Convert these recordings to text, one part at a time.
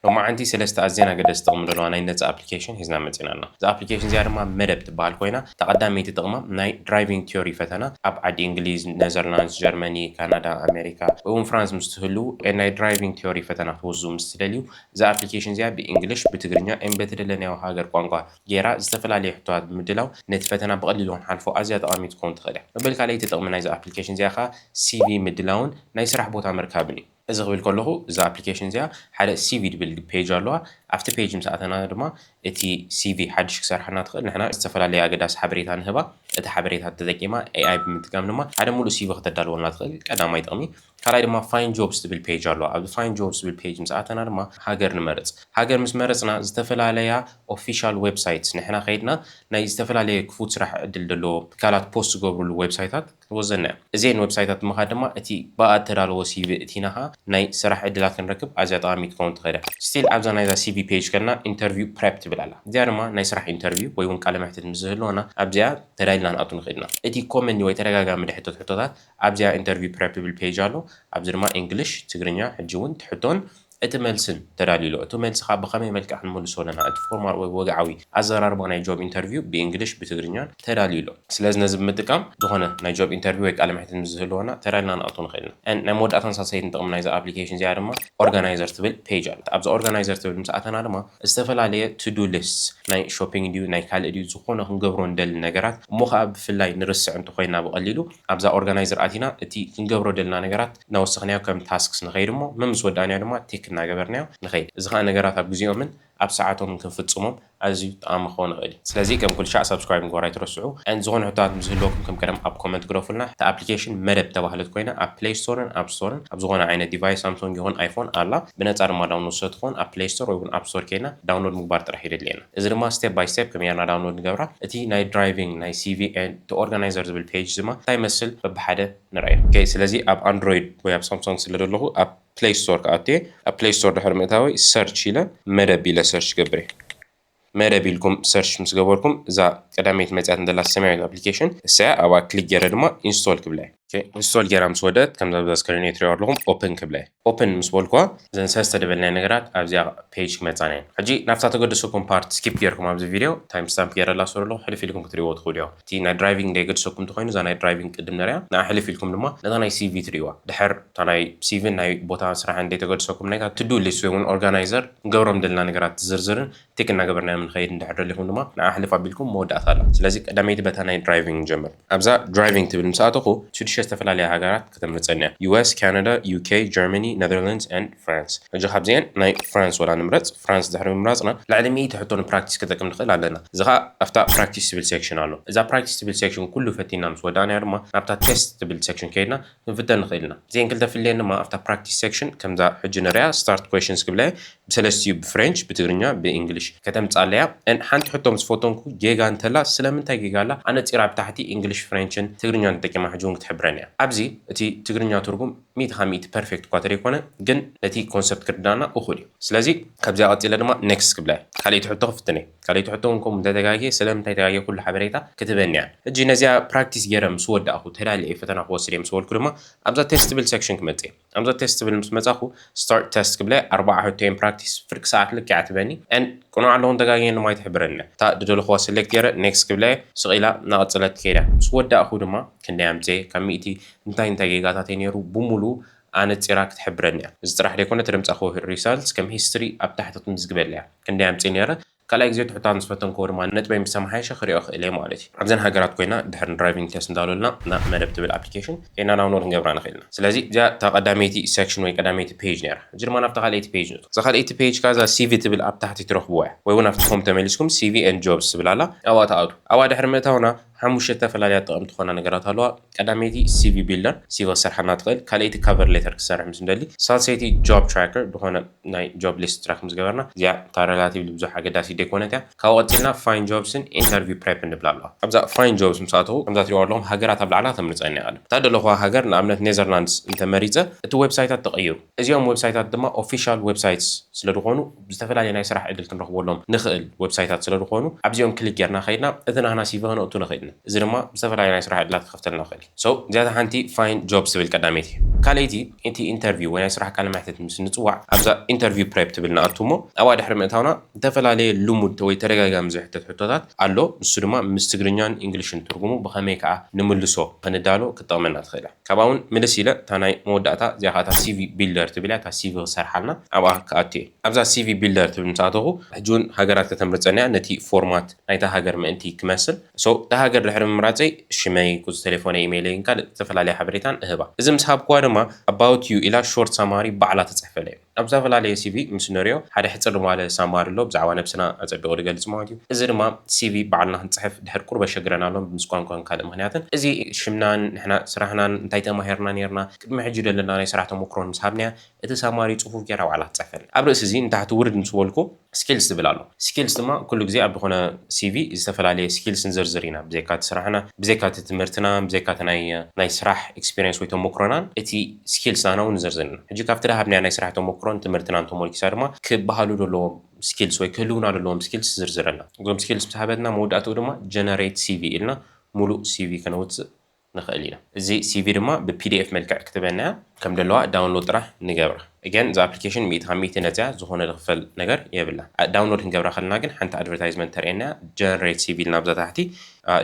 ሎማዓንቲ ሰለስተ ኣዝየን ኣገደስቲ ጥቕሚ ዘለዋ ናይ ነጻ ኣፕሊኬሽን ሒዝና መጺና ኣና። እዛ ኣፕሊኬሽን እዚኣ ድማ መደብ ትበሃል ኮይና እታ ቀዳመይቲ ጥቕማ ናይ ድራይቪንግ ቲዮሪ ፈተና ኣብ ዓዲ እንግሊዝ፣ ነዘርላንድስ፣ ጀርመኒ፣ ካናዳ፣ ኣሜሪካ ወይ ውን ፍራንስ ምስ ትህልው ን ናይ ድራይቪንግ ቲዮሪ ፈተና ክትውዝው ምስ ትደልዩ እዛ ኣፕሊኬሽን እዚኣ ብእንግሊሽ፣ ብትግርኛ ን በትደለናዮ ሃገር ቋንቋ ጌራ ዝተፈላለየ ሕቶታት ብምድላው ነቲ ፈተና ብቐሊሉ ክንሓልፎ ኣዝያ ጠቓሚት ክትከውን ትኽእል እያ። መበል ካልኣይቲ ጥቕሚ ናይዛ ኣፕሊኬሽን እዚኣ ከኣ ሲቪ ምድላውን ናይ ስራሕ ቦታ ምርካብን እዩ። እዚ ክብል ከለኹ እዛ ኣፕሊኬሽን እዚኣ ሓደ ሲቪ ዝብል ፔጅ ኣለዋ። ኣብቲ ፔጅ ምስ ኣተና ድማ እቲ ሲቪ ሓድሽ ክሰርሓልና ትኽእል ንሕና ዝተፈላለየ ኣገዳሲ ሓበሬታ ንህባ። እቲ ሓበሬታ ተጠቂማ AI ብምጥቃም ድማ ሓደ ሙሉእ ሲቪ ከተዳልወልና ትኽእል ቀዳማይ ጥቕሚ። ካልኣይ ድማ ፋይንድ ጆብስ ዝብል ፔጅ ኣለዋ። ኣብዚ ፋይንድ ጆብስ ዝብል ፔጅ ምስ ኣተና ድማ ሃገር ንመርፅ። ሃገር ምስ መረፅና ዝተፈላለያ ኦፊሻል ዌብሳይት ንሕና ከይድና ናይ ዝተፈላለየ ክፉት ስራሕ ዕድል ዘለዎም ትካላት ፖስት ዝገብርሉ ዌብሳይታት፣ ወዘተ እዚኤን ወብሳይታት ምኻድ ድማ እቲ ብኣኣ እተዳለዎ ሲቪ እቲናኻ ናይ ስራሕ ዕድላት ክንረክብ ኣዝያ ጠቓሚት ክኸውን ትኽእል እያ። Still ኣብዛ ናይዛ ሲቪ ፔጅ ከድና ኢንተርቪው ፕረፕ ትብል ኣላ እዚኣ ድማ ናይ ስራሕ ኢንተርቪው ወይ ውን ቃለ መሕትት ምስ ዝህልወና ኣብዚኣ ተዳሊና ንኣቱ ንኽእል ኢና። እቲ ኮመንሊ ወይ ተደጋጋሚ ድሕተት ሕቶታት ኣብዚኣ ኢንተርቪው ፕረፕ ትብል ፔጅ ኣሎ ኣብዚ ድማ ኢንግሊሽ፣ ትግርኛ፣ ሕጂ ውን እቲ ሕቶን እቲ መልስን ተዳልዩ'ሎ። እቲ መልሲ ከኣ ብኸመይ መልክዕ ክንምልሶ ኣለና፣ እቲ ፎርማል ወይ ወግዓዊ ኣዘራርባ ናይ ጆብ ኢንተርቪው ብእንግሊሽ ብትግርኛን ተዳልዩ'ሎ። ስለዚ ነዚ ብምጥቃም ዝኾነ ናይ ጆብ ኢንተርቪው ወይ ቃለ መሕትት ምስ ዝህልወና ተዳሊና ንኣቱ ንኽእል ኢና። And ናይ መወዳእታን ሳልሰይትን ጥቕሚ ናይዛ ኣፕሊኬሽን እዚኣ ድማ ኦርጋናይዘር ትብል ፔጅ ኣላታ። ኣብዛ ኦርጋናይዘር ትብል ምስ ኣተና ድማ ዝተፈላለየ to do lists ናይ ሾፒንግ ድዩ ናይ ካልእ ድዩ ዝኾነ ክንገብሮ ንደሊ ነገራት እሞ ከኣ ብፍላይ ንርስዕ እንተኾይና ብቐሊሉ ኣብዛ ኦርጋናይዘር ኣቲና እቲ ክንገብሮ ደልና ነገራት እናወሰኽናዮ ከም ታስክስ ንኸይድ እሞ መምስ ወዳእናዮ ድማ ቲክ እናገበርናዮ ንኸይድ። እዚ ኸኣ ነገራት ኣብ ግዜኦምን ኣብ ሰዓቶምን ክንፍጽሞም ኣዝዩ ጠቓሚ ክኸውን ይኽእል እዩ። ስለዚ ከም ኩሉ ሻዕ ሳብስክራይብ ምግባር ኣይትረስዑ። And ዝኾነ ሕቶታት ምስ ዝህልወኩም ከም ቀደም ኣብ ኮመንት ግደፉልና። እታ ኣፕሊኬሽን መደብ እተባህለት ኮይና ኣብ ፕለይ ስቶርን ኣፕ ስቶርን ኣብ ዝኾነ ዓይነት ዲቫይስ ሳምሶንግ ይኹን ኣይፎን ኣላ። ብነጻ ድማ ዳውንሎድ ስለትኾን ኣብ ፕለይ ስቶር ወይ'ውን ኣፕ ስቶር ኬድና ዳውንሎድ ምግባር ጥራሕ እዩ ደድልየና። እዚ ድማ ስቴፕ ባይ ስቴፕ ከመይ ጌርና ዳውንሎድ ንገብራ እቲ ናይ ድራይቪንግ ናይ ሲቪ ኤንድ እቲ ኦርጋናይዘር ዝብል ፔጅ ድማ እንታይ ይመስል በብሓደ ንርእዮ። ኦኬ ስለዚ ኣብ ኣንድሮይድ ወይ ኣብ ሳምሶንግ ስለ ዘለኹ ኣብ ፕለይ ስቶር ክኣቱ እየ። ኣብ ፕለይ ስቶር ድሕሪ ምእታወይ ሰርች ኢለ መደብ ኢለ ሰርች ክገብር እየ። መደብ ኢልኩም ሰርች ምስ ገበርኩም እዛ ቀዳመይቲ መጺኣትኒ ዘላ ሰማያዊት ኣፕሊኬሽን ንሳ እያ ኣብኣ ክሊክ ጌረ ድማ ኢንስቶል ክብላ እየ። ኢንስቶል ጌራ ምስ ወደት ከምዚ ኣብዚ ስክሪን ትሪኦ ኣለኹም ኦፕን ክብለ ኦፕን ምስ በልኩዋ ዘን ሰለስተ ደበልናይ ነገራት ኣብዚኣ ፔጅ ክመጻና እየን ሕጂ ናብታ ተገድሰኩም ፓርት ስኪፕ ጌርኩም ኣብዚ ቪድዮ ታይም ስታምፕ ጌረላ ስሩ ኣለኹ ሕልፍ ኢልኩም ክትሪእዎ ትኽእሉ እዮም እቲ ናይ ድራይቪንግ ደይገድሰኩም እንተኾይኑ እዛ ናይ ድራይቪንግ ቅድም ንሪኣ ንኣ ሕልፍ ኢልኩም ድማ ነታ ናይ ሲቪ ትሪእዋ ድሕር እታ ናይ ሲቪን ናይ ቦታ ስራሕን ደይተገድሰኩም ናይታ ቱዱ ሊስት ወይ እውን ኦርጋናይዘር ክንገብሮም ደለና ነገራት ዝርዝርን ቲክ እናገበርናዮም ንኸይድ እንድሕር ደሊኹም ድማ ንዓ ሕልፍ ኣቢልኩም መወዳእታ ኣላ። ስለዚ ቀዳመይቲ በታ ናይ ድራይቪንግ ንጀምር። ኣብዛ ድራይቪንግ ትብል ምስ ኣተኹ ሽዱሽተ ዝተፈላለያ ሃገራት ከተምርጸኒ እያ፣ US፣ Canada፣ UK፣ Germany፣ Netherlands and France። ሕጂ ካብዚኤን ናይ ፍራንስ ወላ ንምረጽ። ፍራንስ ድሕሪ ምምራጽና ልዕሊ ሚእቲ ሕቶ ንፕራክቲስ ክጠቅም ንኽእል ኣለና። እዚ ከኣ ኣብታ ፕራክቲስ ትብል ሴክሽን ኣሎ። እዛ ፕራክቲስ ትብል ሴክሽን ኩሉ ፈቲንና ምስ ወዳእናዮ ድማ ናብታ ቴስት ትብል ሴክሽን ከይድና ክንፍተን ንኽእል ኢና። እዚኤን ክልተ ፍልየን ድማ ኣብታ ፕራክቲስ ሴክሽን ከምዛ ሕጂ ንርእያ ስታርት ኲዌሽንስ ክብላ እየ። ብሰለስቲኡ እዩ ብፍሬንች፣ ብትግርኛ፣ ብእንግሊሽ። ከተምጽኣለይ እያ። ን ሓንቲ ሕቶ ምስ ፈተንኩ ጌጋ እንተላ ስለምንታይ ጌጋ ኣላ ኣነጺራ ኣብ ታሕቲ እንግሊሽ፣ ፍሬንችን ትግርኛን ተጠቂማ ሕጂ እውን ክትሕብረኒ እያ። ኣብዚ እቲ ትግርኛ ትርጉም ሚእቲ ካብ ሚእቲ ፐርፌክት እኳ ተደይኮነ ግን ነቲ ኮንሰፕት ክርድኣና እኹል እዩ። ስለዚ ካብዚኣ ቀጺለ ድማ ኔክስት ክብላ እየ። ካልኣይቲ ሕቶ ክፍትን እየ። ካልኣይቲ ሕቶ ውን ከምኡ እንተተጋግየ ስለምንታይ ተጋግየ ኩሉ ሓበሬታ ክትበኒ እያ። ሕጂ ነዚኣ ፕራክቲስ ገይረ ምስ ወዳእኩ ተዳልየ እየ ፈተና ክወስድ እየ ምስ በልኩ ድማ ኣብዛ ቴስት ትብል ሴክሽን ክመጽእ እየ። ኣብዛ ቴስት ትብል ምስ መጻኹ ስታርት ቴስት ክብለ ኣርባዓ ሕቶ እየን ፕራክቲስ ፍርቂ ሰዓት ልክዕ እያ ትበኒ and ቅኑዕ ኣለኹን ተጋግየን ድማ ኣይትሕብረንን እያ። እታ ዝደለኹዋ ሰሌክት ገይረ ኔክስት ክብላ እየ ስቕ ኢላ እናቐጸለት ትከይድ እያ። ምስ ወዳእኩ ድማ ክንደይ ኣምጺኤ ካብ ሚእቲ እንታይ እንታይ ጌጋታተይ ነይሩ ብሙሉኡ ኣነጺራ ክትሕብረኒ እያ እዚ ጥራሕ ደይኮነ ተደምጻክዎ ሪሳልትስ ከም ሂስትሪ ኣብ ታሕቲ ክትምዝግበለይ እያ ክንደይ ኣምጺ ነይረ ካልኣይ ግዜ ትሑታን ዝፈተንክዎ ድማ ነጥበይ ምስ ተማሓየሸ ክሪኦ ክእል እየ ማለት እዩ ኣብዘን ሃገራት ኮይና ድሕሪ ንድራይቪንግ ቴስት እንዳበሉልና ናብ መደብ ትብል ኣፕሊኬሽን ከይድና ዳውንሎድ ክንገብራ ንክእል ኢና ስለዚ እዚኣ እታ ቀዳመይቲ ሰክሽን ወይ ቀዳመይቲ ፔጅ ነይራ እዚ ድማ ናብታ ካልኣይቲ ፔጅ ንእቶ እዛ ካልኣይቲ ፔጅ ከኣ እዛ ሲቪ ትብል ኣብ ታሕቲ ትረክብዋ እያ ወይ ውን ኣብቲ ሆም ተመሊስኩም ሲቪ ኤንድ ጆብስ ትብል ኣላ ኣብኣ ትኣትዉ ኣብኣ ድሕሪ ምእታውና ሓሙሽተ እተፈላለያ ጠቐምቲ ዝኾና ነገራት ኣለዋ። ቀዳመይቲ ሲቪ ቢልደር፣ ሲቪ ክትሰርሓልና ትኽእል። ካልኣይቲ ካቨር ሌተር ክትሰርሕ ምስ ንደሊ። ሳልሰይቲ ጆብ ትራከር፣ ዝኾነ ናይ ጆብ ሊስት ትራክ ምስ ገበርና። እዚኣ እታ ረላቲቭሊ ብዙሕ ኣገዳሲት ደይኮነት እያ። ካብኡ ቀጺልና ፋይንድ ጆብስን ኢንተርቪው ፕሬፕን ንብላ ኣለዋ። ኣብዛ ፋይንድ ጆብስ ምስ ኣተኹ ከምዛ ትሪእዋ ኣለኹም ሃገራት ኣብ ላዕላ ክተምርጸኒ እያ ቀደም። እታ ዝደለኹዋ ሃገር ንኣብነት ኔዘርላንድስ እንተ መሪጸ እቲ ዌብሳይታት ተቐይሩ። እዚኦም ወብሳይታት ድማ ኦፊሻል ወብሳይትስ ስለድኾኑ ዝተፈላለየ ናይ ስራሕ ዕድል ክንረኽበሎም ንኽእል ወብሳይታት ስለድኾኑ ኣብዚኦም ክሊክ ጌርና ከይድና እቲ ናህና ሲቪ ከነእቱ ንኽእል ኢና እዚ ድማ ዝተፈላለየ ናይ ስራሕ ዕድላት ክኸፍተልና ይኽእል እዩ so እዚኣታ ሓንቲ find jobs ትብል ቀዳመይቲ እያ ካልኣይቲ እቲ ኢንተርቪው ወይ ናይ ስራሕ ቃለ መሕትት ምስ ንፅዋዕ ኣብዛ interview prep ትብል ንኣቱ እሞ ኣብኣ ድሕሪ ምእታውና ዝተፈላለየ ልሙድ ወይ ተደጋጋሚ ዝሕተት ሕቶታት ኣሎ ንሱ ድማ ምስ ትግርኛን ኢንግሊሽን ትርጉሙ ብኸመይ ከኣ ንምልሶ ኽንዳሎ ክትጠቕመና ትኽእል እያ። ካብኣ ውን ምልስ ኢለ እታ ናይ መወዳእታ እዚኣ ከኣ እታ ሲቪ ቢልደር ትብል እያ እታ ሲቪ ክሰርሓልና ኣብኣ ክኣቱ እየ ኣብዛ ሲቪ ቢልደር ትብል ምስ ኣተኹ ሕጂ ውን ሃገራት ከተምርጸኒ እያ ነቲ ፎርማት ናይታ ሃገር ምእንቲ ክመስል so እታ ሃገር ድሕሪ ምምራጸይ ሽመይ ቁጽሪ ተሌፎነይ ኢመይለይን ካልእ ዝተፈላለየ ሓበሬታን እህባ እዚ ምስ ሃብኩዋ ድማ about you ኢላ ሾርት ሳማሪ ባዕላ ትጽሕፈለይ። ኣብ ዛፈላለየ ሲቪ ምስ ንርእዮ፣ ሓደ ሕጽር ማለ ሳማር ኣሎ፣ ብዛዕባ ነብስና ኣጸቢቑ ድገልጽ ማለት እዩ። እዚ ድማ ሲቪ ባዕልና ክንጽሕፍ ድሕር ቁሩብ ኣሸግረና ኣሎ፣ ምስ ቋንቋን ካልእ ምኽንያትን። እዚ ሽምናን ንሕና ስራህናን እንታይ ተማሂርና ኔርና፣ ቅድሚ ሕጂ ደለና ናይ ስራሕ ተሞክሮን ምስ ሃብናያ፣ እቲ ሳማሪ ጽፉፍ ጌራ ባዕላ ትጽሕፈልና። ኣብ ርእሲ'ዚ ንታሕቲ ውርድ ምስ በልኩ፣ ስኪልስ ዝብል ኣሎ። ስኪልስ ድማ ኩሉ ግዜ ኣብ ዝኾነ ሲቪ ዝተፈላለየ ስኪልስ ንዝርዝር ኢና። ብዘይካ እቲ ስራሕና፣ ብዘይካ እቲ ትምህርትና፣ ብዘይካ እቲ ናይ ናይ ስራሕ ኤክስፒሪየንስ ወይ ተሞክሮናን እቲ ስኪልስ ናና እውን ንዝርዝር ኢና። ሕጂ ካብቲ ድሃብናዮ ናይ ስራሕ ተሞክሮን ትምህርትናን ተሞርኪሳ ድማ ክበሃሉ ዘለዎም ስኪልስ ወይ ክህልዉና ዘለዎም ስኪልስ ዝርዝር ኣላ። እዞም ስኪልስ ምስ ሃበትና መወዳእትኡ ድማ ጀነሬት ሲቪ ኢልና ሙሉእ ሲቪ ከነውጽእ ንክእል ኢና እዚ ሲቪ ድማ ብ pdf መልክዕ ክትበና እያ ከም ደለዋ ዳውንሎድ ጥራሕ ንገብራ again እዛ ኣፕሊኬሽን ሚእቲ ካብ ሚእቲ ነጻ እያ ዝኮነ ዝክፈል ነገር የብላን ዳውንሎድ ክንገብራ ከለና ግን ሓንቲ ኣድቨርታይዝመንት ተርእየና እያ generate ሲቪ ኢልና ኣብዛ ታሕቲ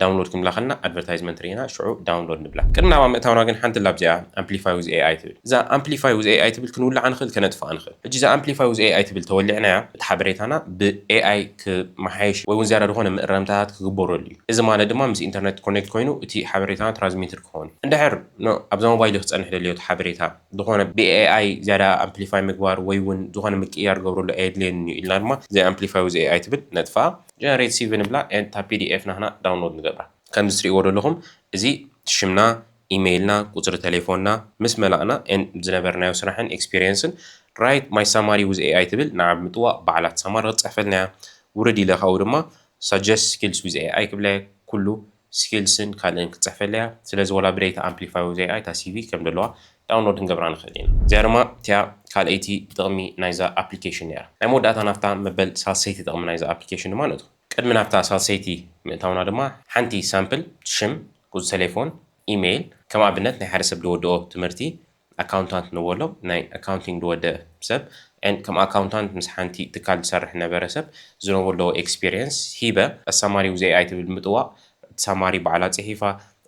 ዳውንሎድ ክንብላ ከለና ኣድቨርታይዝመንት ሪኢና ሽዑ ዳውንሎድ ንብላ ቅድሚ ናብኣ ምእታውና ግን ሓንቲ ላብ እዚኣ ኣምፕሊፋይ ዊዝ AI ትብል እዛ ኣምፕሊፋይ ዊዝ AI ትብል ክንውልዓ ንክእል ከነጥፍኣ ንክእል ሕጂ እዛ ኣምፕሊፋይ ዊዝ AI ትብል ተወሊዕናያ እቲ ሓበሬታና ብ AI ክመሓየሽ ወይ ውን ዝያዳ ዝኮነ ምእረምታታት ክግበረሉ እዩ። እዚ ማለት ድማ ምስ ኢንተርነት ኮኔክት ኮይኑ እቲ ሓበሬታና ትራዝሚትድ ክኸውን። እንድሕር ን ኣብዛ ሞባይሊ ክጸንሕ ደልዮ እቲ ሓበሬታ ዝኾነ ብ AI ዝያዳ ኣምፕሊፋይ ምግባር ወይ ውን ዝኾነ ምቅይያር ክገብረሉ ኣየድልየንን እዩ ኢልና ድማ ዘይ ኣምፕሊፋይ ዊዝ AI ትብል ነጥፍኣ። ጀነሬት ሲቪ ንብላ and እታ pdf ናህና ዳውንሎድ ንገብራ። ከምዚ ትርእይዎ ደለኹም እዚ ሽምና፣ ኢመይልና፣ ቁጽሪ ተሌፎንና ምስ መላእና and ዝነበርናዮ ስራሕን ኤክስፒርየንስን Write my summary with AI ትብል ንዓ ብምጥዋቕ ባዕላ ትሰማር ክትጽሕፈልና እያ። ውርድ ኢለ ካብኡ ድማ Suggest skills with AI ክብላ'የ ኩሉ ስኪልስን ካልእን ክትጽሕፈለይ'ያ ስለዚ ወላ ብደይታ ኣምፕሊፋይ ዊዝ AI እታ ሲቪ ከም ደለዋ ዳውንሎድ ክንገብራ ንኽእል ኢና እዚኣ ድማ እቲኣ ካልኣይቲ ጥቕሚ ናይዛ ኣፕሊኬሽን ነይራ ናይ መወዳእታ ናብታ መበል ሳልሰይቲ ጥቕሚ ናይዛ ኣፕሊኬሽን ድማ ንእቶ ቅድሚ ናብታ ሳልሰይቲ ምእታውና ድማ ሓንቲ ሳምፕል ሽም ቁጽሪ ተሌፎን ኢመይል ከም ኣብነት ናይ ሓደ ሰብ ድወድኦ ትምህርቲ ኣካውንታንት ንበሎ ናይ ኣካውንቲንግ ዝወደ ሰብ and ከም ኣካውንታንት ምስ ሓንቲ ትካል ዝሰርሕ ዝነበረ ሰብ ዝነብሮ ዘለዎ ኤክስፒሪየንስ ሂበ ኣሳማሪ ዊዝ AI ትብል ብምጥዋቕ እቲ ሳማሪ ባዕላ ጺሒፋ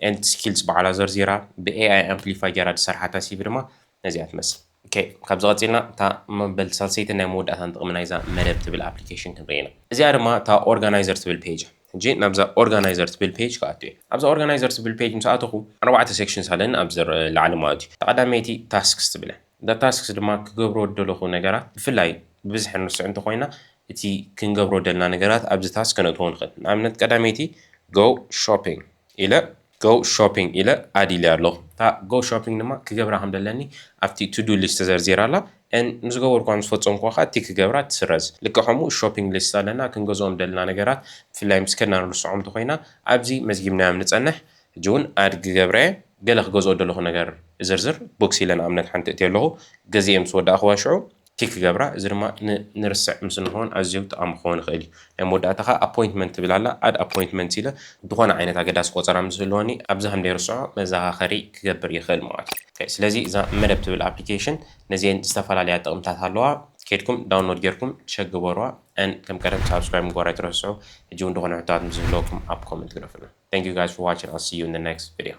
and እቲ ስኪልስ ባዕላ ዘርዚራ ብ AI ኣምፕሊፋይ ጌራ ዝሰርሓ ታሲቢ ድማ ነዚኣ ትመስል። ኦኬ ካብዚ ቀጺልና እታ መበል ሳልሰይትን ናይ መወዳእታን ጥቕሚ ናይዛ መደብ ትብል ኣፕሊኬሽን ክንርኢ ኢና። እዚኣ ድማ እታ ኦርጋናይዘር ትብል ፔጅ እያ። ሕጂ ናብዛ ኦርጋናይዘር ትብል ፔጅ ክኣቱ እየ። ኣብዛ ኦርጋናይዘር ትብል ፔጅ ምስ ኣተኹ ኣርባዕተ ሴክሽንስ ኣለኒ ኣብዚ ላዕሊ ማለት እዩ። እታ ቀዳመይቲ ታስክስ ትብል እያ። እዛ ታስክስ ድማ ክገብሮ ዝደለኹ ነገራት ብፍላይ ብብዝሒ ንርስዕ እንተኾይና እቲ ክንገብሮ ዝደለና ነገራት ኣብዚ ታስክ ከነእትዎ ንኽእል። ንኣብነት ቀዳመይቲ Go Shopping ኢለ Go Shopping ኢለ Add ኢለያ ኣለኹ። እታ Go Shopping ድማ ክገብራ ከም ዘለኒ ኣብቲ To Do List ተዘርዚራ ኣላ and ምስ ዝገበርኩዋ ምስ ፈጸምኩዋ ከኣ Tick ክገብራ ትስረዝ። ልክዕ ከምኡ Shopping List ኣለና ክንገዝኦም ዝደለና ነገራት ብፍላይ ምስ ከድና ንርስዖም እንተኾይና ኣብዚ መዝጊብናዮም ንጸንሕ። ሕጂ ውን Add ክገብራ እየ። ገለ ክገዝኦ ዝደለኹ ነገር እዝርዝር Books ኢለ ንኣብነት ሓንቲ እእትዮ ኣለኹ። ገዚኤ ምስ ወዳእኩዋ ሽዑ ቲክ ክገብራ እዚ ድማ ን ንርስዕ ምስ እንኾን ኣዝዩ ጠቓሚ ክኸውን ይኽእል እዩ። ናይ መወዳእታ ከኣ ኣፖይንትመንት ትብል ኣላ ኣድ ኣፖይንትመንት ኢለ ዝኾነ ዓይነት ኣገዳሲ ቆጸራ ምስ ዝህልወኒ ኣብዛ ከም ደይርስዖ መዘኻኸሪ ክገብር ይኽእል ማለት እዩ። ኦኬ ስለዚ እዛ መደብ ትብል ኣፕሊኬሽን ነዚኤን ዝተፈላለያ ጥቕምታት ኣለዋ ኬድኩም ዳውንሎድ ጌርኩም ቸክ ግበሩዋ and ከም ቀደም ሳብስክራይብ ምግባር ኣይትረስዑ። ሕጂ ውን ዝኾነ ሕቶታት ምስ ዝህልወኩም ኣብ ኮመንት ግደፉልና። Thank you guys for watching I'll see you in the next video።